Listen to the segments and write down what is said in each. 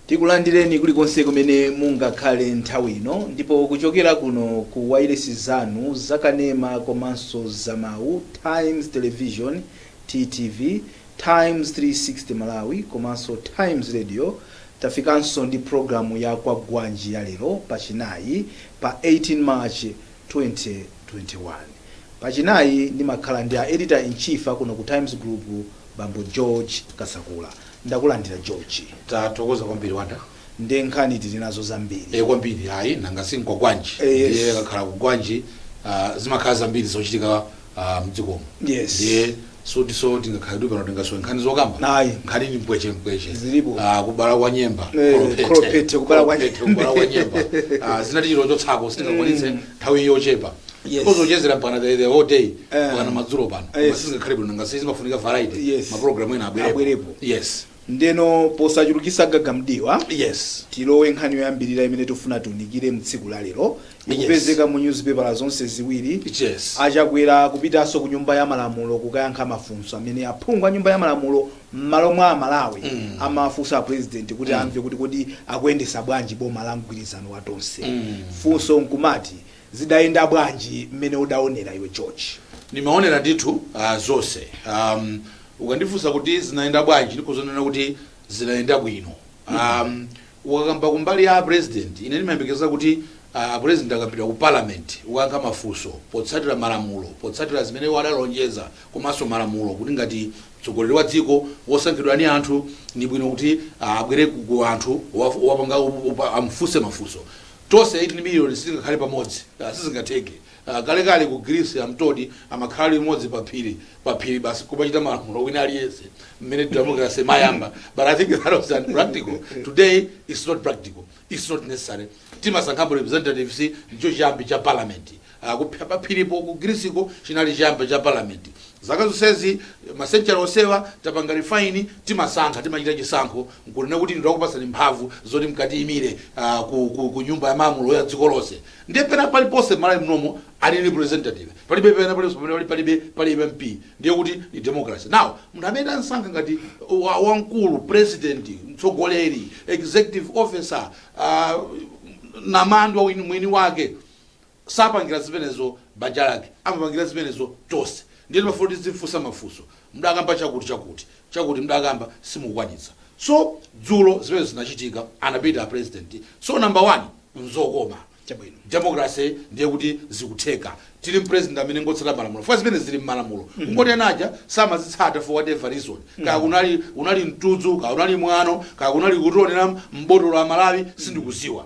tikulandireni kulikonse kumene mungakhale nthawi ino ndipo kuchokera kuno ku wailesi zanu zakanema komanso zamawu times television ttv Times 360 Malawi komanso Times Radio tafikanso ndi pulogalamu ya Kwagwanji ya lero pa chinayi pa 18 March 2021. Pa chinayi ndimakhala ndi a Editor in Chief akuno ku Times Group, Bambo George Kasakula. Ndakulandira George. Tathokoza kwambiri Wonder. nde nkhani tili nazo zambiri. e kwambiri ayi nanga si nkwagwanji Eh, yes. ndiye akakhala kugwanji ah, zimakhala zambiri zochitika ah, mdzikomo Yes. ndiye sotiso tingakhale tili pano tingasowe nkhani zokamba Ayi. nkhani ndi mpweche mpweche Zilipo. Ah, kubala kwa nyemba Eh, kholophethe, kholophethe, kubala kwa kholophethe, nyemba. kubala kwa nyemba Ah, zina tichito chotsako sitingakwanitse nthawi yochepa Yes. khozo chezera mpana the, the whole day Eh. mpakana madzulo pano Yes. koma sizingakhale bwino nanga si zimafunika variety Yes. maprogramu ena abwerepo Abwerepo. yes Ndeno posachulukitsa gaga mdiwa Yes. tilowe nkhani yoyambirira imene tufuna tiunikire mtsiku la lero ikupezeka mu nyuzipepala zonse ziwiri. Yes. A Chakwera kupitanso ku nyumba ya malamulo kukayankha mafunso amene aphungu a nyumba ya malamulo mmalo mwa a Malawi amawafunsa a president kuti amve kuti kodi akuyendetsa bwanji boma la mgwirizano wa Tonse. Funso nkumati Zidayenda bwanji mmene udaonera iwe George? Ndimaonera ndithu zonse. Ukandifunsa kuti zinayenda bwanji, ndikhoza kunena kuti zinayenda bwino. Ukakamba kumbali ya a President, ine ndimayembekeza kuti a President akapita ku Parliament kukayankha mafunso potsatira malamulo, potsatira zimene iwo adalonjeza komanso malamulo kuti ngati mtsogoleri wa dziko wosankhidwa ndi anthu, ndi bwino kuti abwere ku anthu, wapanga, amufunse mafunso. Tonse 18 miliyoni sitingakhale pamodzi. Sizingatheke. Kalekale ku Greece I'm told amakhala limodzi paphiri, paphiri basi nkumachita malamulo wina aliyense mmene democracy imayamba but I think that was unpractical. Today it's not practical, it's not necessary. Timasankhapo representatives ndicho chiyambi cha parliament. paphiripo ku Greeceko chinali chiyambi cha Parliament. Zaka zonsezi, ma century onsewa, tapanga refine, timasankha, timachita chisankho, nkunena kuti inu takupatsani mphamvu zoti mkatiyimire ku ku ku nyumba ya malamulo ya dziko lonse. Ndiye pena paliponse m'Malawi munomo ali representative. Palibe pena paliponse pamene pali palibe pali MP. Ndiye kuti ndi democracy. Now, munthu amene tamsankha ngati wa wamkulu, president, mtsogoleri, executive officer, a, namandwa wini mwini wake, sapangila zimenezo banja lake amapangila zimenezo tonse ndiye timafuna kuti tizimfunsa mafunso mdakamba chakuti chakuti chakuti mdakamba simukwanitsa so dzulo zimenezo zinachitika anapita president so number one nzokoma Chabwino. democracy ndiye kuti zikutheka tili ndi president amene ngotsata malamulo chifukwa zimene zili mmalamulo kungoti anaja samazitsata for whatever reason kaya unali mtudzu kaya unali mwano kaya kunali kutionera mbotolo a Malawi sindikudziwa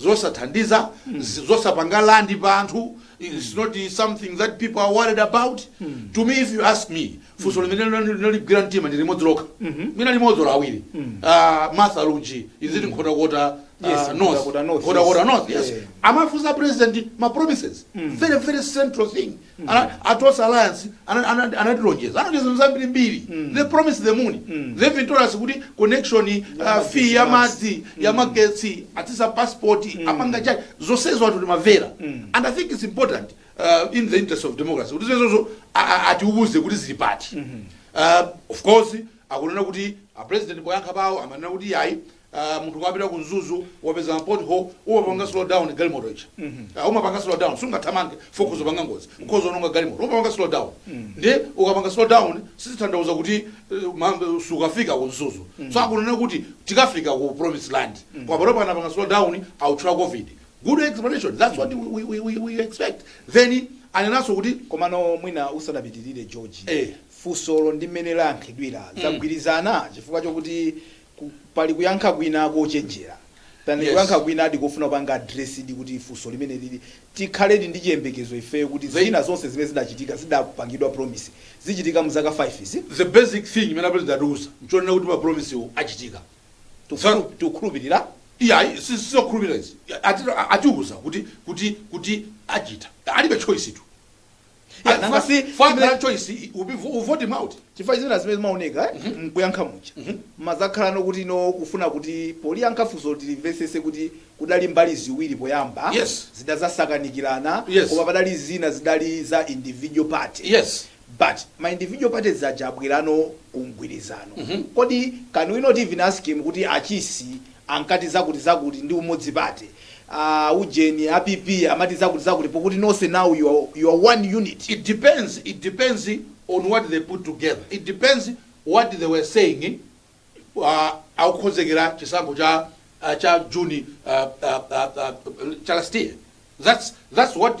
zosathandiza, zi- zosapanga land pa anthu, it's not something that people are worried about. To me, if you ask me, funso limene linali- linaligwira mtima ndi limodzi lokha. Mwina limodzi olo awiri. Ah, Martha Lunji, is it Nkhotakota, ah, Yes, North? Nkhotakota North, Nkhotakota yes. North, yes. Yeah. amafunsa president ma promises very very central thing Ana- a tonse alliance ana- ana- anatilonjeza anatilonjeza zinthu zambiri mbiri they promised the moon they even told us kuti connection uh, fee ya madzi ya magetsi atsitsa passport apanga chani zonsezo anthu timavera and i think it's important uh, in the interest of democracy kuti zimenezozo a- a- atiuze kuti zili pati uh, of course akunena kuti a president poyankha pawo amanena kuti yayi uh, munthu ukapita ku mzuzu wapeza ma pot hole umapanga slow down galimoto ija uh, umapanga slow down sungathamange focus upanga ngozi ukhoza ononga galimoto umapanga slow down ndiye ukapanga slow down sizitanthauza kuti uh, ma- sukafika ku mzuzu so akunena kuti tikafika ku promised land koma pano panapanga slow down autchula covid good explanation that's what we, we, we, we expect then anenanso kuti komano mwina usanapitirire george Eh. funsolo ndi mmene layankhidwira zagwirizana chifukwa chokuti Ku, pali kuyankha kwina kochenjera. Pali Yes. kuyankha kwinadi kofuna kupanga address di kuti funso limeneli tikhaledi ndi chiyembekezo ifeyo kuti The- zina zonse zimene zidachitika, zidapangidwa promise, zichitika mu zaka 5 izi. The basic thing imene a President atiuza nchonena kuti ma promise-wo achitika. Tikukhulu- Tikukhulupirira. Iyayi, si- sizokhulupirira izi. Ati- Atiuza kuti, kuti, kuti achita. Alibe choice tu. Yeah, And nanga for- si- for chimene- grand choice we- we'll vo- we'll vote him out chifukwa zina zimene zimaoneka eh, mkuyankha muja mazakhala nokuti no kufuna kuti poyankha funso tilimvetsetse kuti kudali mbali ziwiri poyamba Yes. zidazasakanikirana Yes. koma padali zina zidali za individual party yes but ma individual parties aja abwera no kumgwirizano kodi can we not even ask him kuti achisi ankati zakuti zakuti ndi Umodzi Party aah ujeni a PP amati zakuti zakuti pokuti nonse now you are you are one unit. It depends it depends on what they put together it depends what they were saying aah akukonzekera chisankho cha cha June aah aah aah cha last year that's that's what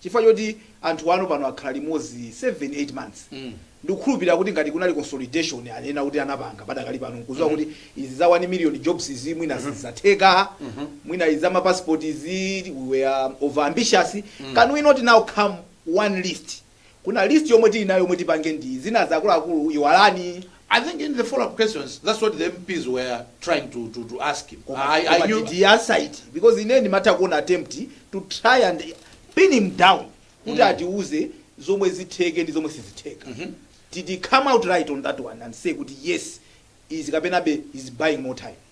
chifukwa choti anthu ano pano akhala limodzi 7 8 months ndikukhulupilira kuti ngati kunali consolidation anena kuti anapanga padakali pano nkuziwa kuti izi za 1 million jobs izi mwina sizatheka mwina izi za ma passport izi we were over ambitious can we not now come one list kuna list yomwe tili nayo yomwe tipange ndi zina zakuluakulu iwalani I think in the follow up questions that's what the MPs were trying to, to, to ask him. Koma- I, I koma knew, did he answer it? because ine ndimatha kuona attempt to try and pin him down kuti atiuze zomwe zitheke ndi zomwe sizitheka did he come out right on that one and say kuti yes izi kapenabe is buying more time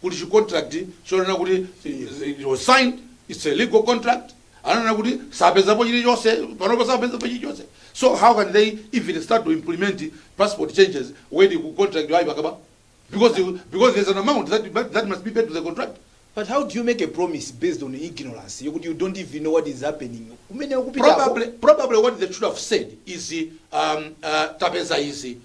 kuli chi contract chonena kuti eh, it was signed it's a legal contract ananena kuti sapezapo chilichonse panopa sapezapo chilichonse so how can they even start to implement passport changes when ku contract yayi pakaba because you- because there's an amount that, that, that must be paid to the contract But how do you make a promise based on ignorance? You, you don't even know what is happening. Umene ukupita hapo. probably probably what they should have said is um, uh, tapeza izi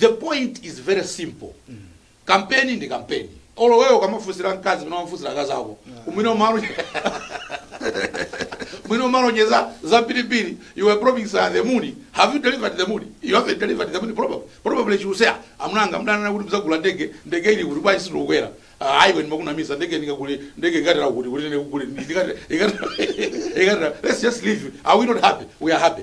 The point is very simple kampeni ndi kampeni olo wewe ukamafusira mkazi mwina munamfusira akazi ako mwina umalonjeza za pilipili you were promised uh, the moon have you delivered the moon? you haven't delivered the moon probably probably she will say amunanga mudanena kuti mudzagula ndege ndege ili kuti bwanji sindikukwera uh, aiwe ndimakunamisa ndege ndingagule ndege ikatera kuti kuti ndikugule ikatera let's just leave are we not happy we are happy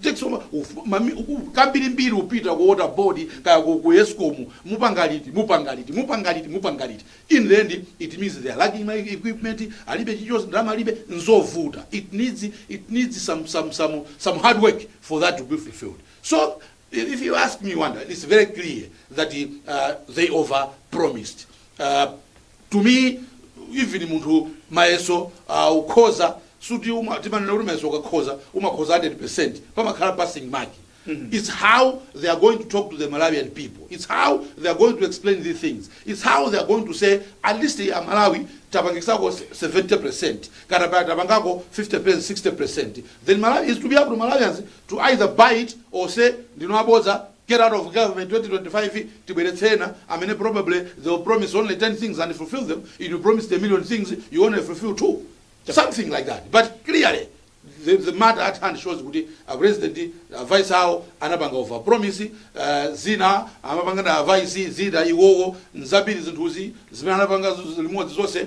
Jackson ma, uf, ma, mi, uku, kambiri mbiri upita ku water board kaya ku, ku escom mupanga liti mupanga liti mupanga liti mupanga liti in the end it means they are lacking my equipment alibe chichos ndalama alibe nzovuta it needs it needs some some some some hard work for that to be fulfilled so if if you ask me wonder it's very clear that uh, they over promised uh, to me even munthu mayeso uh, ukhoza suti uma- timanena kuti mayeso ukakhoza umakhoza 100 pamakhala passing mark It's how they are going to talk to the Malawian people. It's how they are going to explain these things. It's how they are going to say, at least a Malawi, tapangako 70%, katapaya tapangako 50%, 60%. Then Malawi is to be able to Malawians to either buy it or say, ndinoabodza, get out of government 2025 tibweretse ena amene probably they will promise only 10 things and fulfill them if you promised a million things you only fulfill two something like that but clearly the, the matter at hand shows kuti a president a vice awo anapanga over promise uh, zina amapanga na vice zina iwowo nzambiri zinthuzi zimene anapanga zu- limodzi zonse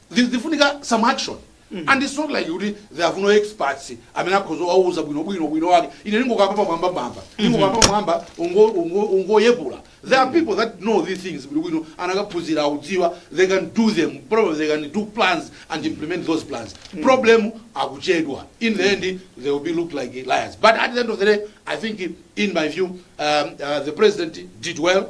Zifunika some action and its not like kuti they have no experts amene akhoza kuwauza bwino bwino ubwino wake. Ine ndingokamba pamwambamwamba, ndingokamba pa mwamba ungo ungo ungoyepula. There are people that know these things bwino bwino anakaphunzira akudziwa they can do them probably they can do plans and implement those plans. Problem akuchedwa in the end they will be looked like liars. But at the end of the day I think in my view um, uh, the president did well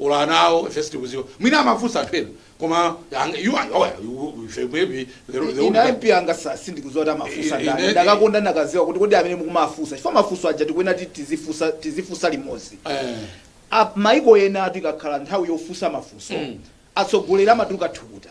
or ana awo ife sitikuziwa mwina amafunsa anthu ena koma ang- you are- oh, yeah, you- you- ife maybe the- the ine only- mp anga sa- sindikuziwa kuti amafunsa Ine- ndani ine- ndakakonda ndakaziwa kuti kodi amene mukumafunsa chifukwa mafunso aja tikuyenera kuti tizifunsa tizifunsa limodzi Eh, A- maiko enatu ikakhala nthawi yofunsa mafunso Mm. atsogoleri amatuluka thukuta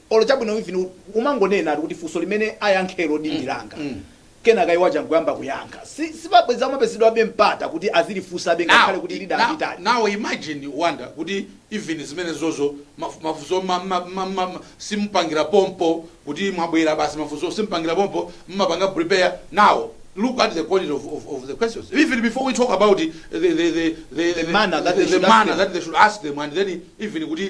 Olo chabwino even umangonenatu kuti funso limene ayankhelo ndi langa kenaka iwo aja nkuyamba kuyankha si sibabwezi amapezedwabe mpata kuti azilifunsabe Now, ngakhale kuti i- lida now, litali. now imagine Wonder kuti even zimenezozo maf- mafunso mma- mma- mma- mma- mma- simupangira pompo kuti mwabwera basi mafunso simupangira pompo mmapanga prepare now look at the quality of, of, of the questions even before we talk about the, the, the, the, the, manner that they the should ask manner them. that they should ask them and then even kuti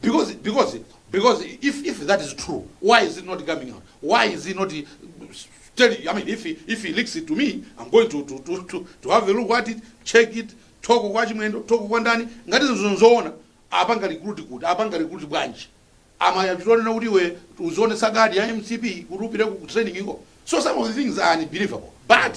because because because if if that is true why is it not coming out why is it not uh, telling you? i mean if he, if he leaks it to me i'm going to to to to, to have a look at it check it talk kwa a chimwendo talk kwa ndani ngati zinthu nzoona apanga recruit kuti apanga recruit bwanji amachita kunena kuti iwe uzionetsa kadi ya mcp kuti upite ku training iko so some of the things are unbelievable but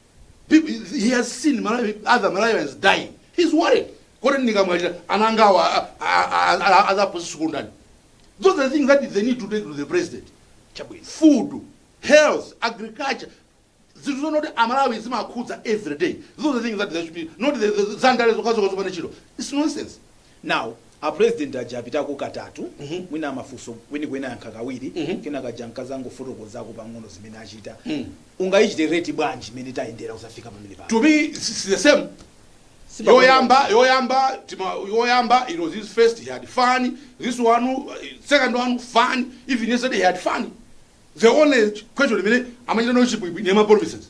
he has seen other Malawians dying. He's worried. Kodi ndikamwalira ana anga awa azapasa sukulu ndani? Those are the things that they need to take to the president. Chabwino. Food, health, agriculture. Zinthu zonoti Amalawi zimakhudza every day. Those are the things that they should be osati zandale zokhazo zopanda ntchito. It's nonsense. Now apresident aja apitako katatu mwina amafunso kwenikweni ayankha kawiri kenako aja ankazangofotokozako pang'ono zimene achita. Ungayichite rate bwanji imene tayendera kuzafika pamene pano? To me it's, it's the same yoyamba yoyamba time yoyamba it was his first he had fun this one uh, second one fun even yesterday he had fun the only question imene amachita nayo chibwibwi ndi ma promises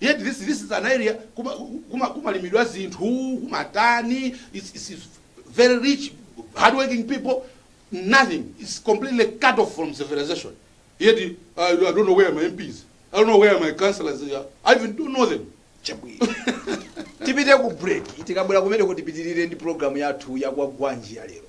yet this this is an area kuma kuma kumalimidwa zinthu kumatani it's, it's it's very rich hardworking people nothing it's completely cut off from civilization yet uh, I don't know where my MPs I don't know where my councillors are I even don't know them chabwino tipite ku break tikabwera kumene kuti tipitirire ndi programu yathu yakwa gwanji ya lero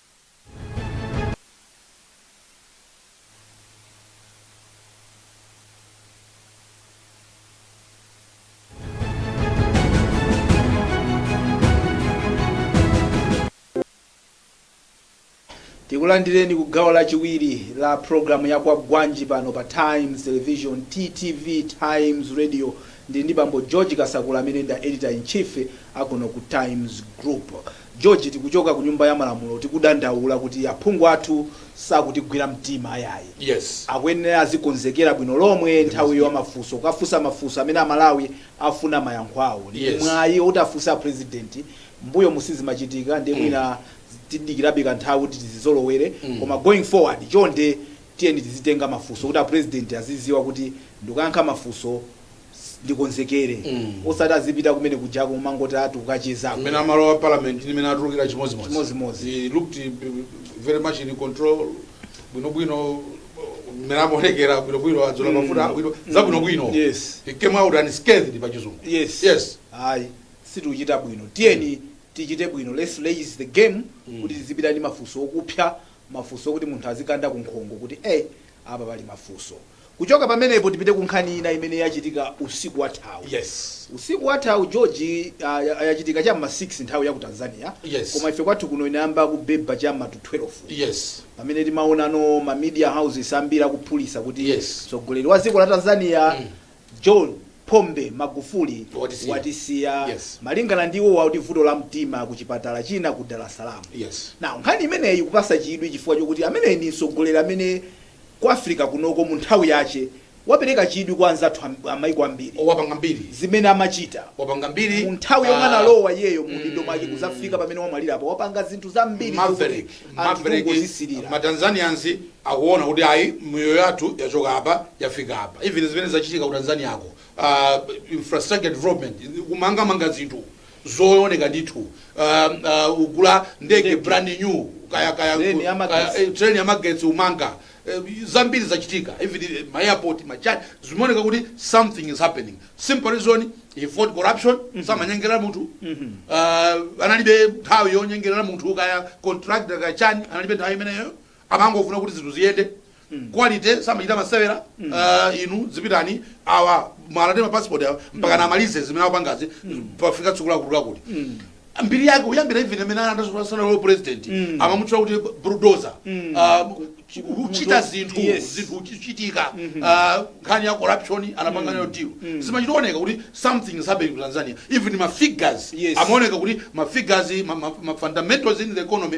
tikulandireni ku gawo lachiwiri la programu ya kwa gwanji pano pa times television ttv times radio ndi ndi bambo george kasakula amene ndi a editor in chief akuno ku times group George, tikuchoka ku nyumba ya malamulo tikudandaula kuti aphungu athu sakutigwira mtima ayayi. Yes. Akuyenera azikonzekera bwino lomwe nthawi ya mafunso, kukafunsa mafunso amene Amalawi afuna mayankho awo. Ndi Yes. mwayi oti afunse a president. M'mbuyomu sizimachitika ndiye mwina tidikirabe kanthawi kuti tizizolowere. Koma going forward, chonde tiyeni tizitenga mafunso kuti a president azidziwa kuti ndikayankha mafunso s- ndikonzekere Mm. osati azipita kumene kujako kumangoti ati akachezako mmene amalowa parliament ndi mmene atulukira chimodzimodzi Chimodzimodzi. he looked eh, very much in control bwinobwino mmene amaonekera bwinobwino adzola mafuta abwino zabwinobwino Yes. he came out unscathed pa chizungu yes yes ayi sitikuchita bwino tiyeni tichite bwino let's raise the game kuti tizipita ndi mafunso okupsa mafunso okuti munthu azikanda ku nkhongo kuti ey apa pali mafunso Kuchoka pamenepo tipite ku nkhani ina imene yachitika usiku wathawu. Yes. Usiku wathawu George, ah, ya- yachitika cha m'ma 6 nthawi ya ku Tanzania. Yes. Koma ife kwathu kuno inayamba kubeba cha m'ma 12. Yes. Pamene timaonano ma media houses ambiri akuphulitsa kuti Yes. mtsogoleri wa dziko la Tanzania John Pombe Magufuli Watisiya. watisiya Yes. malingana ndi iwowa kuti vuto la mtima ku chipatala china ku Dar es Salaam. Yes. Now nkhani imeneyi ikupasa chidwi chifukwa chokuti ameneyi ndi mtsogoleri amene ku Africa kunoko mu nthawi yache wapereka chidwi kwa anzathu a, a maiko ambiri. O, wapanga mbiri. Zimene amachita. Wapanga mbiri. Mu nthawi yomwe a. analowa iyeyo mu udindo mwake kudzafika pamene wamwalira apa, wapanga zinthu zambiri zokuti Maverick, anthu Maverick, kungozisilira. ma Tanzanians akuona kuti ayi miyoyo yathu yachoka apa yafika apa. Even zimene zachitika ku Tanzania ko, ah, infrastructure development, kumangamanga zinthu zooneka ndithu uh, uh, ugula ndege brand new kaya kaya Train ya magetsi. kaya- eh, train ya magetsi umanga eh, zambiri zachitika even eh, ma airport ma chani zimaoneka kuti something is happening simple reason he fought corruption samanyengerera munthu uh, analibe nthawi yonyengerera munthu kaya contractor kaya chani analibe nthawi imeneyo amangofuna kuti zinthu ziyende quality samachita masewera ah, inu zipitani awa amalandidwa mapasipoti awa mpaka amalize zimene akupangazi pafika tsiku lakuti lakuti mbiri yake uyambira even amene asanalowe president amamutchula kuti bulldozer kuchita zinthu Yes. zinthu kuchitika ah, nkhani ya corruption anapanga nayo deal zimachioneka kuti something is happening ku tanzania even ma figures Yes. amaoneka kuti ma figures ma, ma, ma fundamentals in the economy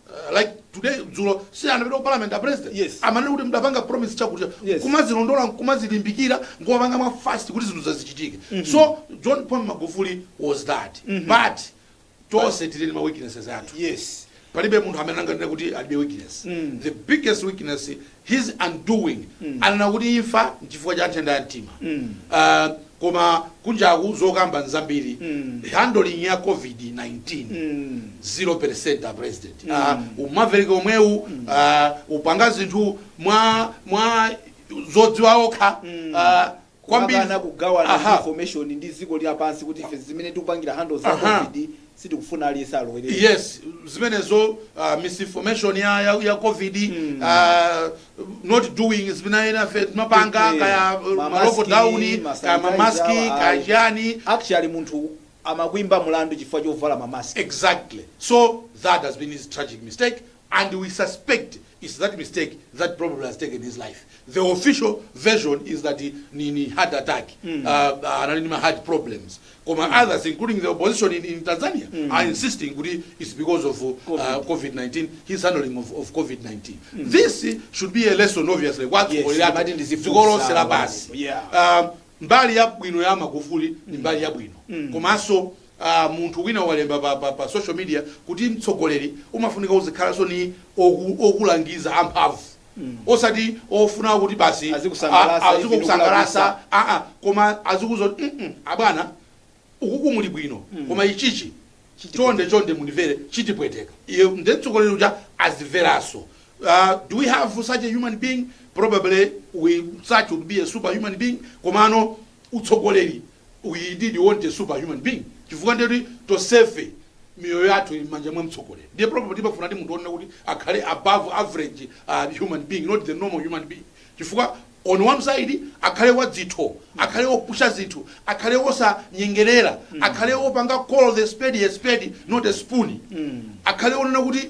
Uh, like today dzulo si anapita ku parliament a president Yes. amanena kuti mudapanga promise chakuti Yes. kumazilondola kumazilimbikira nkumapanga mwa fast kuti zinthu zizichitika so john pombe magufuli was that but tonse tili ndi ma weaknesses athu yes palibe munthu amene anganene kuti alibe weakness the biggest weakness his undoing anena kuti imfa nchifukwa cha nthenda ya mtima uh, koma kunjaku zokamba nzambiri handling ya covid 19 0% a president uh, umaverick omwewu uh, upanga zinthu mwa mwa zodziwa okha uh, kwambiri kumakana kugawana aha information ndi dziko lapansi kuti ife zimene tikupangira handle za aha covid sitikufuna aliyense alowerere yes zimenezo uh, misinformation ya, ya, ya covid mm. uh, not doing zimene enafe timapanga Eh, eh, kaya uh, ma lock mask, down kaya mamaski sanitizer, awa, kaya ayi. chani actually munthu amakwimba mulandu chifukwa chovala mamask exactly so that has been his tragic mistake and we suspect its that mistake that probably has taken his life the official version is that ni, ni heart attack mm. uh, anali ndi ma heart problems koma mm. others including the opposition in, in tanzania mm. are insisting kuti its because of uh, covid-19 his handling of, of covid-19 mm. this should be a lesson obviously kwazikolosera basi yeah. um, mbali yabwino ya magufuli ni mbali yabwino mm. komanso a munthu wina walemba pa pa pa social media kuti mtsogoleri umafunika uzikhalanso ni oku, okulangiza amphamvu osati ofuna kuti basi Azikusangalasa, a- ivi azikukusangalasa ndikulakwisa. aa koma azikuuza mm -mm, abwana ukuku muli bwino koma ichichi chonde chonde mundimvere chitipweteka iye nde mtsogoleri uja azimveranso Uh, do we have such a human being probably we such would be a superhuman being komano utsogoleri we indeed want a super human being chifukwa ndiye kuti tonsefe miyoyo yathu ili m'manja mwa mtsogoleri ndiye probably timafuna ndi munthu onena kuti akhale above average uh, human being not the normal human being chifukwa on one side akhale wadzitho akhale wopusha zinthu akhale wosanyengerera akhale wopanga call the spade a spade not a spoon akhale onena kuti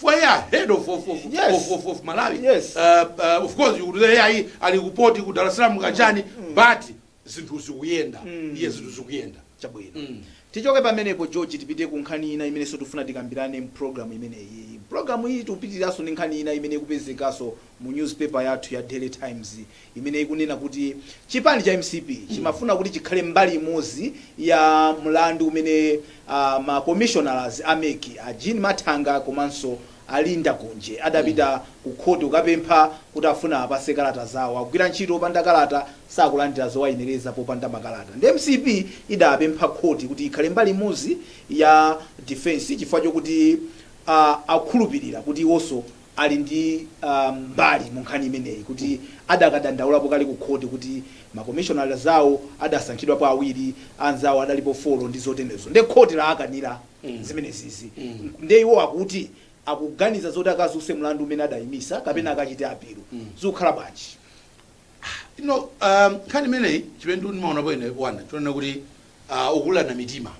fwaya head of, of, of, Yes. of, of, of malawi Yes. uh, uh, of course you could say ayi ali kupoti ku dar es salaam kachani but zinthu zikuyenda yes zinthu zikuyenda chabwino Mm. tichoke pamenepo george tipite ku nkhani ina imenenso tifuna tikambirane mpulogalamu imeneyi pulogalamu iyi tipitiranso ndi nkhani ina imene ikupezekanso mu newspaper yathu ya daily times imene ikunena kuti chipani cha mcp chimafuna kuti chikhale mbali imodzi ya mlandu umene ma commissioners a mec a Jean Mathanga komanso a Linda Kunje adapita ku khoti kukapempha kuti afuna apatsidwe kalata zawo. Akugwira ntchito opanda kalata, sakulandira zowayenereza popanda makalata. Nde mcp idapempha khoti kuti ikhale mbali imodzi ya defense chifukwa chokuti a akukhulupilira kuti iwonso ali ndi mbali mu nkhani imeneyi kuti adakadandaulapo kale ku khoti kuti makomishonala awo adasankhidwapo awiri, anzawo adalipo folo ndi zoterezo ndiye khoti laakanira zimenezizi. Ndiye iwo akuti akuganiza zoti akadzutse mlandu umene adaimisa kapena akachite apilu. Zikukhala bwanji? You know, nkhani imeneyi chimene ndimaonapo ine one, chonena kuti ukulirana mitima.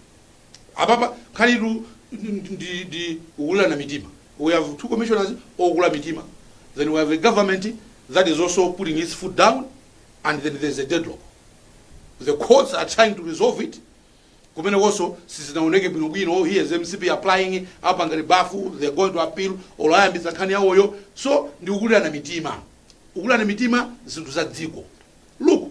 apapa nkhanitu ndi ndi ukulirana mitima we have two commissioners okula mitima then we have a government that is also putting its foot down and then there's a deadlock the courts are trying to resolve it kumene konso sizinaoneke bwinobwino here is mcp applying apa ngati bafuta they are going to appeal olo ayambitsa nkhani yawoyo so ndi ukulirana mitima ukulirana mitima zinthu za dziko look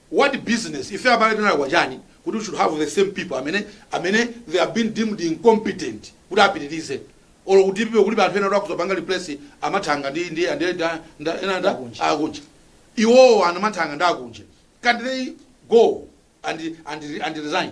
What business ife abale tinalakwa chani kuti we should have the same people amene amene they have been deemed incompetent kuti apitilize olo ku dpp kulibe anthu ena oti akhoza kupanga replace a Mathanga ndi ndi ndi ndi- ndi- ena ndi a Kunje iwowo ana Mathanga ndi a Kunje can't they go and and and resign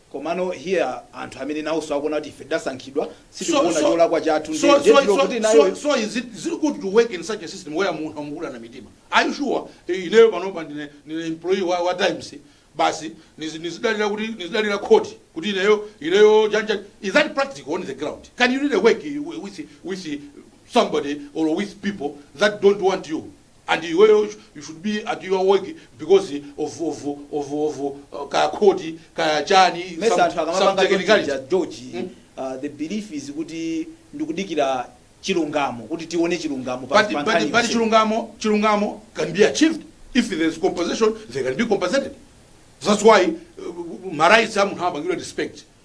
Komano here anthu amene nawoso akuona kuti ife tidasankhidwa So, sitikuona so, cholakwa chathu nde so, nde so, ndilokuti so, so, nayoyo so is it, is it good to work in such a system where munthu amukulirana mitima? Are you sure? Eh, Ineyo panopa ndine, ndine employee wa, wa Times basi nizi- nizidalira kuti nizidalira court kuti ineyo ineyo janja is that practical on the ground? Can you really work eh, with with somebody or with people that don't want you? and iweyo you should be at your work because of of of of kaya khoti kaya chani Mesa some anthu some akamapanga chonchi technicality cha George Mm. uh, the belief is kuti ndikudikira chilungamo kuti tione chilungamo pa- but pa but nkhani but yonse. chilungamo chilungamo can be achieved if there is compensation they can be compensated that's why uh, ma rights a munthu amapangira respect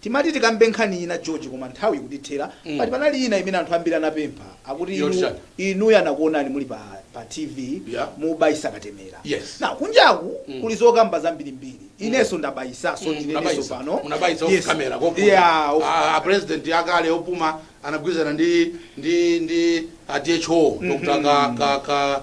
Timati tikambe nkhani ina George koma nthawi ikutithera but panali ina imene anthu ambiri anapempha akuti Yoti chani? inuyo anakuonani muli pa, pa TV Yeah. mubayisa katemera. Yes. Now kunjaku kuli zokamba zambirimbiri. Inenso ndabayisaso ndineneso Munabayitsa. pano. Munabayitsa Yes. off camera koma. Yeah, off- Ah, ah, president akale opuma anagwirizana ndi ndi ndi a DHO Dr. ka ka ka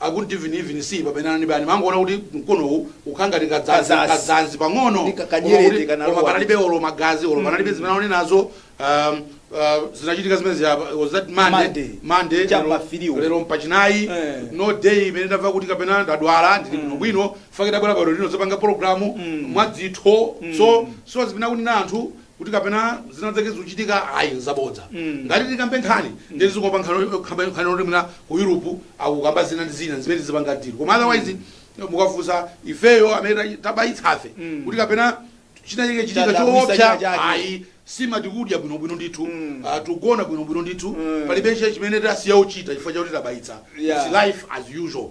I couldn't even even see pamene anandibaya mangoona kuti mkonowu ukhala ngati kadzanzi Kadzanzi. kadzanzi pang'ono Ndi ka- koma kanyerete kuti- kanalowa. koma panalibe olo magazi olo panalibe zimene ndaona nazo um, uh, zinachitika zimene ziyapa was that Monday. Monday Monday Chapa lero- filiwo. lero mpachinayi Eh. no day imene ndamva kuti kapena ndadwala ndili bwino bwino in fact ndabwera pano lino kudzapanga programu mwadzitho so so zimene akunena anthu kuti kapena zinazake zikuchitika ayi nzabodza mm. ngati tikambe nkhani mm. ndiye zingomva nkhani yoti mwina ku Europe akukamba zina ndi zina zimene zipanga dero koma otherwise mm. mukafunsa ifeyo amene tabayitsafe mm. kuti kapena chinachike chitika choopsa ayi nsima tikudya bwino bwino ndithu mm. uh, tugona bwino bwino ndithu mm. palibe chimene tasiya uchita chifukwa chakuti tabayitsa yeah. It's life as usual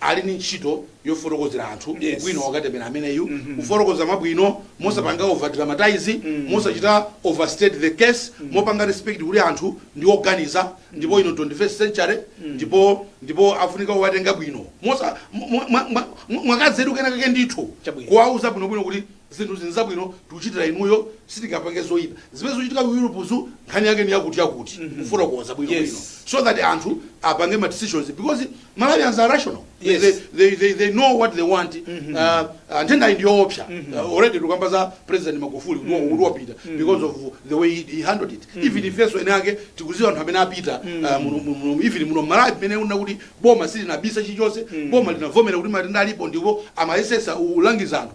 ali ndi ntchito yofotokozera anthu Yes. ubwino wa katemera ameneyu kufotokoza mwabwino mosapanga overdramatize mosachita overstate the case mopanga respect kuti anthu ndi oganiza ndipo ino 21st century ndipo ndipo afunika kuwatenga bwino mosa mwa- mwa- mwa- mwa- mwakazeru kenakake ndithu Chabwino. kuwauza bwinobwino kuti zinthu nzinthu zabwino tikuchitira inuyo sitingapange zoyipa zimene zikuchitika ku europezo nkhani yake ni yakuti yakuti kufotokoza bwinobwino Yes. so that anthu apange ma decisions because Malawians are rational. They, Yes. they, they, they, they know what they want. Uh, uh, nthendayi ndiyoopsa uh, already tukamba za president magufuli kuti mm wapita because of the way he, he handled it even ifenso enaake tikuziwa anthu amene apita uh, muno- muno- muno- even muno mmalawi mmene uona kuti boma silinabisa chilichonse boma linavomera kuti matenda alipo ndipo amayesesa ulangiza anthu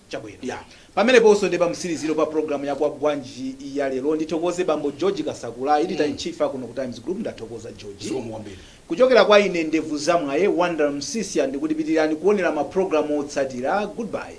Chabwino. Ya. Pameneponso ndiye pamtsiliziro pa programu ya Kwagwanji ya lero. Ndithokoze Bambo George Kasakula, Editor in Chief a kuno ku Times Group. Ndathokoza, George. Zikomo kwambiri. Kuchokera kwa ine Ndevu za mwayi, Wonder Msiska, ndikuti pitirirani kuonera ma programu otsatira. Goodbye.